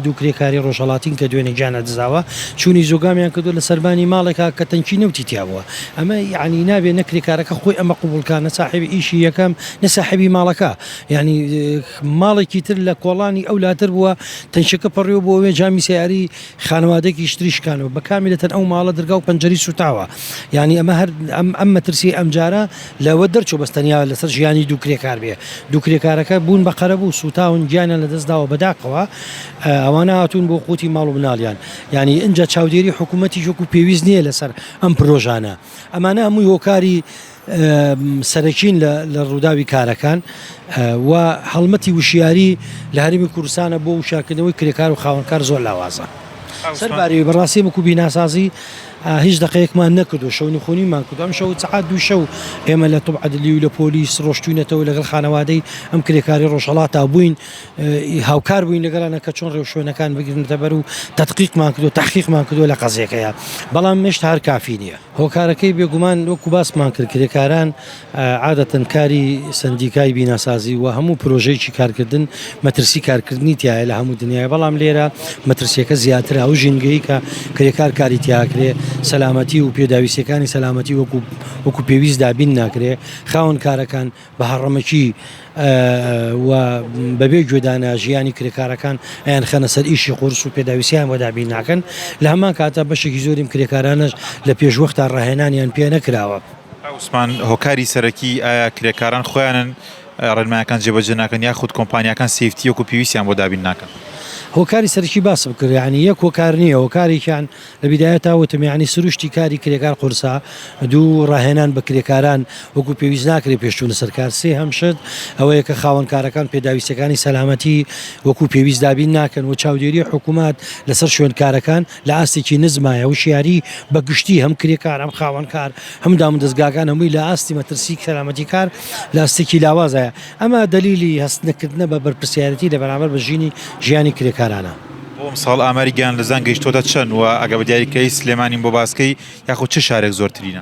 دوو کرێکاری ڕۆژهەڵاتین کە دوێنێ گیان لەدەستداوە، چوونی زۆگامیان کردووە لە سەربانی ماڵێکا کە تەنکی نەوتی تیابووە. ئەمە یەعنی نابێ نە کرێکارەکە خۆی ئەمە قبووڵ کا، نە ساحێبی ئیشی یەکەم، نە ساحێبی ماڵەکە. یەعنی ماڵێکی تر لە کۆڵانی ئەو لاتر بووە، تەنکیەکە پەڕیوە بۆ ئەوێ، جامی سەیارەی خانەوادەیەکیش تری شکانەوە. بە کاملەتەن ئەو ماڵە درگا و پەنجەرەی سووتاوە. یەعنی ئەمە هەر ئەم مەترسیەی ئەمجارە. لەوە دەرچوو بەس تەنیا لەسەر ژیانی دوو کرێکار بێ دوو کرێکارەکە بوون بە قەرەبوو سووتاون گیانیان لەدەست داوە بە داخەوە ئەوانە هاتوون بۆ قوتی ماڵ و مناڵیان یعنی ئینجا چاودێری حکوومەتیش وەکو پێویست نییە لەسەر ئەم پرۆژانە ئەمانە هەمووی هۆکاری سەرەکین لە ڕووداوی کارەکان و هەڵمەتی وشیاری لە هەرێمی کوردستانە بۆ وشارکردنەوەی کرێکار و خاوەنکار زۆر لاوازە سەرباری بەڕاستی وەکو بیناسازی هیچ دەقێکمان نەکرد و شەونخونیمان کرد و ئەمشەو سەعات دووی شەو ئێمە لە توب عەدلی و لە پۆلیس ڕۆشتوینەتەوە لەگەڵ خانەوادەی ئەم کرێکاری ڕۆژهەڵاتا بووین هاوکار بووین لەگەڵانە کە چۆن ڕێوشوێنەکان بگرنتە بەر و تەتقیقمان کرد و تحقیقمان کردووە لە قەزیەکەیە بەڵام مشت هەر کافی نییە هۆکارەکەی بێگومان وەکو باسمان کرد کرێکاران عادەتەن کاری سەندیکای بیناسازی و هەموو پرۆژەیەکی کارکردن مەترسی کارکردنی تایە لە هەموو دنیای بەڵام لێرە مەترسیەکە زیاتر ئەو ژینگەی کە کرێکار کاری تیاکرێ سەلامەتی و پێداویستەکانی سەلامەتی وەکو وەکو پێویست دابین ناکرێ خاون کارەکان بە هەڕەمەکی و بەبێ گوێدانە ژیانی کرێکارەکان ئەیان خەنە سەر ئیشی قورس و پێداویستیان وەدابین ناکەن لە هەمان کاتە بەشێکی زۆریم کرێکارانش لە پێشوەختا ڕاهێنانیان پێ نەکراوە. عوسمان هۆکاری سەرەکی ئایا کرێکاران خۆیانن ڕێنمایەکان جێبەجێ ناکەن یاخود کۆمپانیاکان سیفتی وەکو پێویستیان بۆ دابین ناکەن؟ هۆکاری سەرەکی باسم کرد یعنی یەک هۆکار نییە هۆکارێکیان لە بیدایەتا وتم یعنی سروشتی کاری کرێکار قورسە دوو ڕاهێنان بە کرێکاران وەکو پێویست ناکرێت پێش چوونە سەر کار سێهەم شت ئەوەیە کە خاوەنکارەکان پێداویستیەکانی سەلامەتی وەکو پێویست دابین ناکەن و چاودێری حکومەت لەسەر شوێنکارەکان لە ئاستێکی نزمایە، وشیاری بە گشتی هەم کرێکار هەم خاوەن کار هەم دامودەزگاکان هەمووی لە ئاستی مەترسی سەلامەتی کار لە ئاستێکی لاوازایە، ئەمە دەلیلی هەست نەکردنە بە بەرپرسیارێتی لە بەرامبەر بژینی ژیانی کرێکارانە. بۆ ئەمساڵ ئاماری گیان لەدزان گەیشتۆتە چەند؟ وە ئەگەر بە دیاری بکەی سلێمانیم بۆ باسکەی یاخود چ شارێک زۆرترینە؟